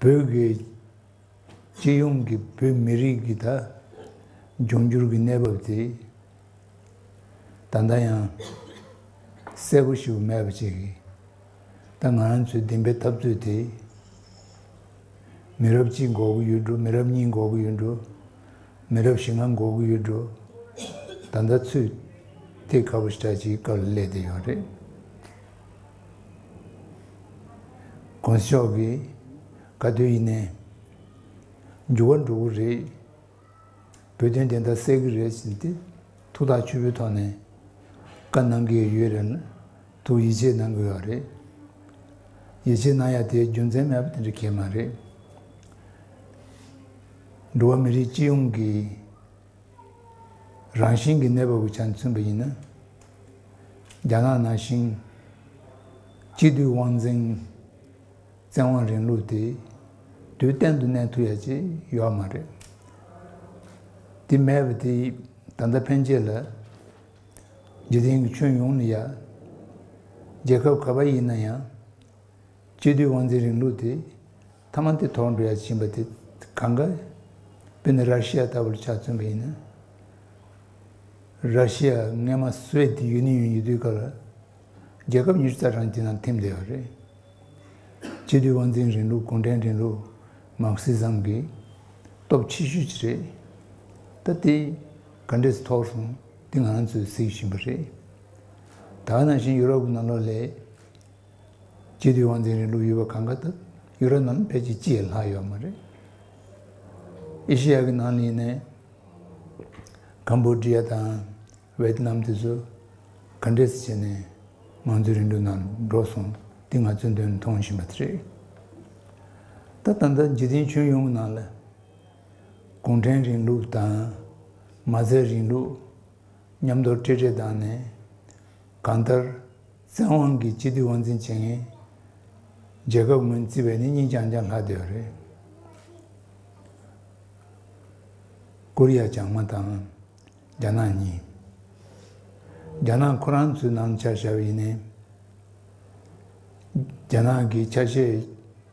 བོད་དགེ། སྤྱི་ཡོངས་ཀྱི་བོད་མི་རིགས་ཀྱི་ད་འབྱུང་འགྱུར་གྱི་གནས་བབ་དེ། ད་ལྟ་ཡང་གསལ་པོ་ཞིག་མེད་པ་ཅིག་གིས། ད་ང་རང་ཚོའི་བདེན་པའི་འཐབ་རྩོད་དེ། མི་རབས་གཅིག་འགོག་གི་ཡོད་འགྲོ་མི་རབས་གཉིས་འགོག་གི་ཡོད་འགྲོ། མི་རབས་བཞི་ལྔ་འགོག་གི་ཡོད་འགྲོ། ད་ལྟ་ཚུད། དེ་ཁ་བོ་ཞེ་དྲག་ཅིག་གི་སྐབས་ལ་སླེབས་བསྡད་ཡོད་རེད། དགོན་ཤོག་གི་དགའ་སྟོན་ཡིན་ནའི། འགྱུར་བ་འགྲོ་གི་རེད། བོད་དོན་བདེན་མཐའ་གསལ་གི་རེད་ཟེར་ཏེ་ཐུགས་ཐག་ཆོད་པོའི་ཐོག་ནས་བཀའ་གནང་གི་ཡོད་རེད་ལ་དུ་ཡིད་ཆེས་གནང་གི་ཡོད་རེད། ཡིད་ཆེས་གནང་ཡ་དེའི་རྒྱུ་མཚན་མེད་པ་དེ་འདྲ་ཁས་མ་རེད། འགྲོ་བ་མི་རིགས་སྤྱི་ཡོངས་ཀྱི། རང་བཞིན་གྱི་གནས་བབ་ཀྱི་ཆ་ནས་མཚོན་པ་ཡིན་ན། རྒྱ་ནག་ནང་བཞིན། སྤྱི་འཐུས་དབང་འཛིན། བཙན་དབང་རིང་ལུགས་དེ་དུས་གཏན་དུ་གནས་ཐུབ་ཡ་ཅི་ཡོད་མ་རེད། དེ་མེད་པ་དེ་ད་ལྟ་ཕན་ཆད་ལ། འཇིག་རྟེན་གྱི་ཁྱོན་ཡོངས་ནས་ཡ། རྒྱལ་ཁབ་ག་པ་ཡིན་ན་ཡང། སྤྱི་འཐུས་དབང་འཛིན་རིང་ལུགས་དེ། ཐ་མ་འདི་དོགས་འདྲི་ཡ་བྱིན་པ་དེ་གང་གཱ། བི་ནི་རཱ་ཤི་ཡ་ལྟ་བུར་ཆ་མཚོན་པ་ཡིན། རཱ་ཤི་ཡ་རྔན་མ་སུའེ་ཏི་ཡུན་ནི་ཡོན་ཉེ་དུའི་སྐབས་ལ་རྒྱལ་ཁབ་གཉིས་རྩ་ཁྲང་གི་ནང་འཐིམས་བསྡད་པ་རེད། སྤྱི་འཐུས་དབང་འཛིན་རིང་ལུགས་གུང་ཁྲན་རིང་ལུགས་མཱ་ཁི་ཟམ་གྱི་སྟོབས་ཆེ་ཤོས་ཅིག་རེད། ད་དེ་ག་འདྲས་སུ་ཐོགས་སོང་འདི་ང་ཚོས་གཟིགས་བཞིན་པ་རེད། ད་ནང་བཞིན་ཡུ་རོབ་ཀྱི་ནང་ལོགས་ལས། ཀྱེ་དུས་དབང་འཛིན་རིང་ལུགས་ཡོད་པ་གང་གཱ་ད་ཡུ་ར་རྣམས་ཕལ་ཆེར་སྤྱི་ཡི་ལྷག་ཡོད་མ་རེད། ཨེ་ཤེ་ཡ་གི་ནང་གླིང་ནས་ཀམ་བོ་དྲི་ཡ་དང་བེ་ཏི་ནམ་དེ་ཚོ་ག་འདྲས་སུ་བྱས་ནས་དམངས་གཙོའི་རིང་ལུགས་ནང་འགྲོ་སོང་འདི་ང་ཚོས་དོན་མཐོང་བཞིན་པ་དེ་རེད། ད་ད་ལྟ་འཇིག་རྟེན་ཁྱོན་ཡོངས་གི་ནང་ལ་གུང་ཁྲན་རིང་ལུགས་དང་མ་རྩའི་རིང་ལུགས་མཉམ་དོར་སྤྲེལ་སྤྲེལ་བཏང་ནས་གང་ལྟར། བཙན་དབང་གིས་སྤྱི་འཐུས་དབང་འཛིན་བྱེད་མཁན། རྒྱལ་ཁབ་ངོས་བརྩི་བས་ནི་གཉིས་ཀྱང་ཀྱང་ལྷག་བསྡད་པ་རེད། ཀོ་རི་ཡ་བྱང་མ་དང། རྒྱ་ནག་གཉིས། རྒྱ་ནག་ཁོ་རང་ཚོའི་ནང་འཆར་བཞག་ཡིན་ནའི། རྒྱ་ནག་གིས་ཆ་ཤས།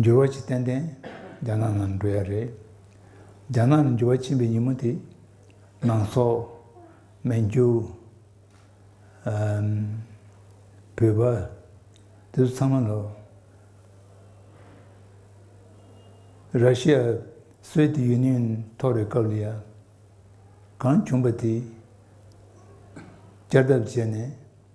འགྱུར་བ་ཅི་ཏན་ཏན་རྒྱ་ནག་ནང་འགྲོ་ཡ་རེད། རྒྱ་ནག་ནས་འགྱུར་བ་ཕྱིན་པའི་ཉིན་མོ་དེ། ནང་སོག། མན་ཇུ། བོད་པ། དེ་ཚོ་ཚང་མ་ལ། ར་ཤི་ཡ་སོའི་དེ་ཡུན་ནན་ཐོག་རེད་སྐབས་ལ་ཡ། གང་བྱུང་པ་དེ། བསྐྱར་ལྡབ་བྱས་ནས།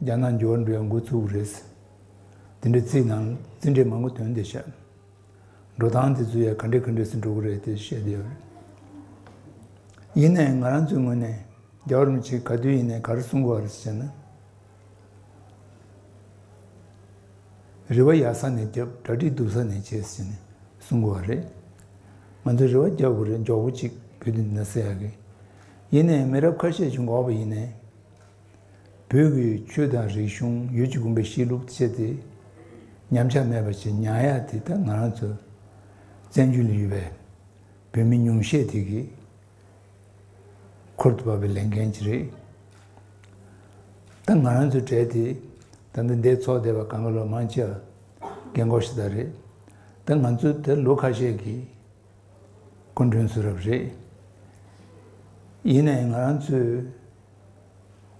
རྒྱ་ནག་འབྱོར་འབྲས་འགོ་བཙུགས་རེད། དེ་འདྲའི་རྩིས་ནང་རྩིས་འབྲས་མང་པོ་དོན་དེ་བཤད། འགྲོ་སྟངས་དེ་ཚོ་ཡང་ག་འདྲས་ག་འདྲས་སུ་འགྲོ་གི་རེད་དེ་བཤད་བསྡད་ཡོད་རེད། ཡིན་ནའི་ང་རང་ཚོའི་ངོས་ནས་རྒྱ་གར་མི་ཆེ་ག་དུས་ཡིན་ནའི་གར་སོང་གི་རེད་ཟེར་ན། རེ་བ་ཡག་ས་ནས་བརྒྱབ་གྲ་སྒྲིག་སྡུག་ས་ནས་བྱས་ཟེར་ནས་གསུང་གི་རེད། ང་ཚོ་རེ་བ་བརྒྱབ་གི་རེད་མགྱོགས་པོ་ཅིག་བོད་དུ་འདི་འདྲ་ཟེར་ཡག་གི། ཡིན་ནའི་མི་རབས་ཁ་ཤས་ཀྱིས་འགོག་པ་ཡིན་ནའི། བོད་ཀྱི་ཆོས་དང་རིག་གཞུང་ཡུལ་གྱི་དགོན་པའི་གཤིས་ལུགས་སྤྱད་དེ་ཉམས་ཆག་མེད་པར་བྱས་མྱངས་ཡ་དེ་ད་ང་རང་ཚོ་བཙན་བྱོལ་ནས་ཡོད་པའི་བོད་མི་ཉུང་ཤས་དེ་གིས་ཁུར་དུ་བབས་པའི་ལས་འགན་ཅིག་རེད་ད་ང་རང་ཚོ་བྲལ་དེ་ད་ལྟ་འདས་ཚོགས་སྡེ་བ་གངྒཱ་ལོ་མང་ཆེ་ལ་རྒན་གོག་ཤི་ད་རེད་ད་ང་ཚོ་ད་ལོ་ཁ་ཤས་ཀྱི་སྐུ་མགྲོན་ཚུ་རབས་རེད་ཡིན་ནའི་ང་རང་ཚོའི།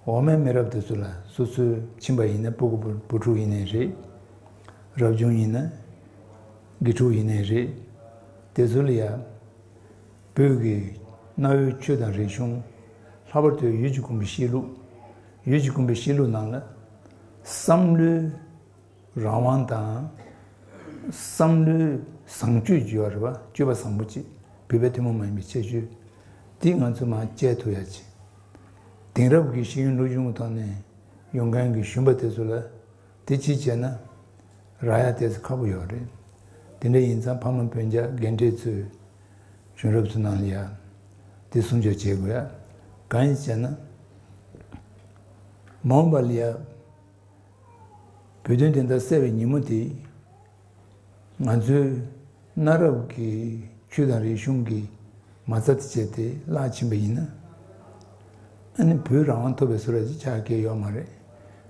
འོག་མའི་མི་རབས་དེ་ཚོ་ལ་སོ་སོའི་ཁྱིམ་པ་ཡིན་ན་སྤུ་གུ་བུ་ཕྲུག་ཡིན་ནའི་རེད། རབ་བྱུང་ཡིན་ན་དགེ་ཕྲུག་ཡིན་ནའི་རེད། དེ་ཚོ་ལ་ཡང་བོད་ཀྱི་གནའ་བོའི་ཆོས་དང་རིག་གཞུང། ལྷག་པར་དུ་ཡུལ་གྱི་དགོན་པའི་གཤིས་ལུགས། ཡུལ་གྱི་དགོན་པའི་གཤིས་ལུགས་ནང་ལ་བསམ་བློའི། རང་དབང་དང། བསམ་བློའི་བཟང་སྤྱོད་བརྗོད་པ་རེད་བ་སྤྱོད་པ་བཟང་པོ་ཅིག་བོད་པའི་ཐུན་མོང་མ་ཡིན་པའི་ཁྱད་ཆོས་འདི་ང་ཚོས་མང་སྤྱད་ཐུབ་ཡག་ཅིག་དེང་རབས་ཀྱི་ཤེས་ཡོན་ལོ་ཆུང་གི་ཐོག་ནས་ཡོང་མཁན་གྱི་གཞོན་པ་དེ་ཚོ་ལ་དེ་ཅིག་བྱས་ན་རག་ཡག་དེ་ཚོ་ཁག་པོ་ཡོག་རེད་དེ་འདྲ་ཡིན་ཙང་ཕ་མ་བོན་རྒྱ་རྒན་གྲས་ཚོས་གཞོན་རབས་ཚོ་ནང་ལ་ཡག་དེ་སྲུང་སྐྱོབ་བྱེད་དགོས་ཡག་གང་ཡིན་ཟེར་ན་མ་འོངས་པ་ལ་ཡག། བོད་དོན་བདེན་མཐའ་གསལ་བའི་ཉིན་མོ་དེ། ང་ཚོས་གནའ་རབས་ཀྱི་ཆོས་དང་རིག་གཞུང་གི་མ་རྩ་དེ་བྱས་ཏེ་བརླག་ཕྱིན་པ་ཡིན། ཨ་ནི་བོད་རང་དབང་ཐོབ་པའི་ཟུར་ར་ཞིག་ཆགས་ཀྱི་ཡོད་མ་རེད།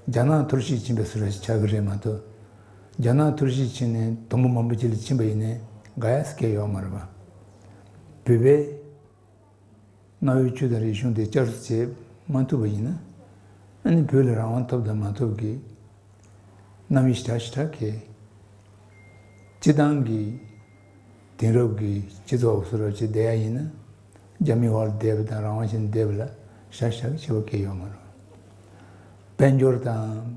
རྒྱ་ནག་ཐུར་བཞེས་ཕྱིན་པའི་ཟུར་ར་ཞིག་ཆགས་ཀྱི་རེད་མ་གཏོགས། རྒྱ་ནག་ཐུར་བཞེས་ཕྱིན་ནས་དུམ་བུ་མང་པོ་བྱས་ལ་ཕྱིན་པ་ཡིན་ནས་དགའ་ཡག་སྐྱེ་ཡོད་མ་རེད། བོད་པའི། གནའ་བོའི་ཆོས་དང་རིག་གཞུང་དེ་བསྐྱར་དུ་བྱེད་མ་ཐུབ་པ་ཡིན་ན། ནི་བོད་ལ་རང་དབང་ཐོབ་དང་མ་ཐོབ་ཀྱི་གནམ་གཤིས་གྲགས་ཤིག་གྲགས་གལ། སྤྱི་བཏང་གི་དེང་རབས་ཀྱི་སྤྱི་ཚོགས་འོག་སུ་རབ་བྱེད་བསྡད་ཡ་ཡིན་ན། རྒྱ་མིའི་བར་བསྡད་པ་དང་རང་དབང་ཆེད་བསྡད་པ་ལ་བཞག་བཞག་བྱེད་པ་གལ་ཡོད་མ་རུང། དཔལ་འབྱོར་དང།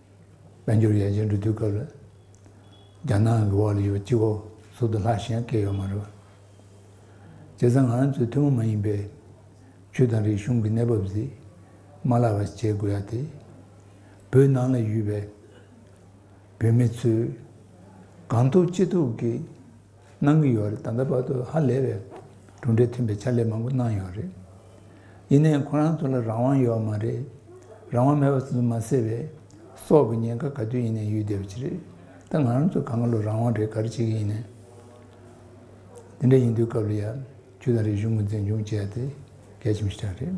དཔལ་འབྱོར་ཡར་རྒྱས་འགྲོ་དུས་སྐབས་ལ་རྒྱ་ནག་གི་འོག་ལ་ཡོད་པའི་སྤྱི་བོ་ཟུར་དུ་ལྷག་ཞེན་སྐྱེས་ཡོད་མ་རེད་པ། བྱས་ཙང་ང་ཚོས་ཐུན་མོང་མ་ཡིན་པའི་ཆོས་དང་རིག་གཞུང་གི་གནས་བབ་གཟིགས་མ་ལ་བར་བྱེད་དགོས་ཡ་དེ། བོད་ནང་ལ་ཡོད་པའི་བོད་མི་ཚོས་གང་ཐུབ་ཅི་ཐུབ་ཀྱིས་གནང་གི་ཡོད་རེད་ད་ལྟ་བར་དུ་ཧ་ལས་པའི་གྲུབ་འབྲས་ཐོན་པའི་ཕྱག་ལས་མང་པོ་གནང་ཡོད་རེད། ཡིན་ནའི་ཁོ་རང་ཚོ་ལ་རང་དབང་ཡོད་མ་རེད། རང་དབང་མེད་པ་སོ་སོ་མ་སེར་བས་སྲོག་གི་ཉེན་ཁ་ག་དུས་ཡིན་ནའི་ཡུལ་སྡེ་བ་ཅི་རེད་ད་ང་རང་ཚོ་ག་ང་ལོ་རང་དབང་རེད་ག་རེ་བྱེད་ཀྱི་ཡིན་ནའི། འདི་འདྲ་ཡིན་དུས་སྐབས་ལ་ཡ་ཁྱུ་དང་རིག་གཞུང་ངོས་འཛིན་ཅུང་བྱས་ཏེ་གལ་ཆེན་པོ་ཞིག་ཆགས་རེད།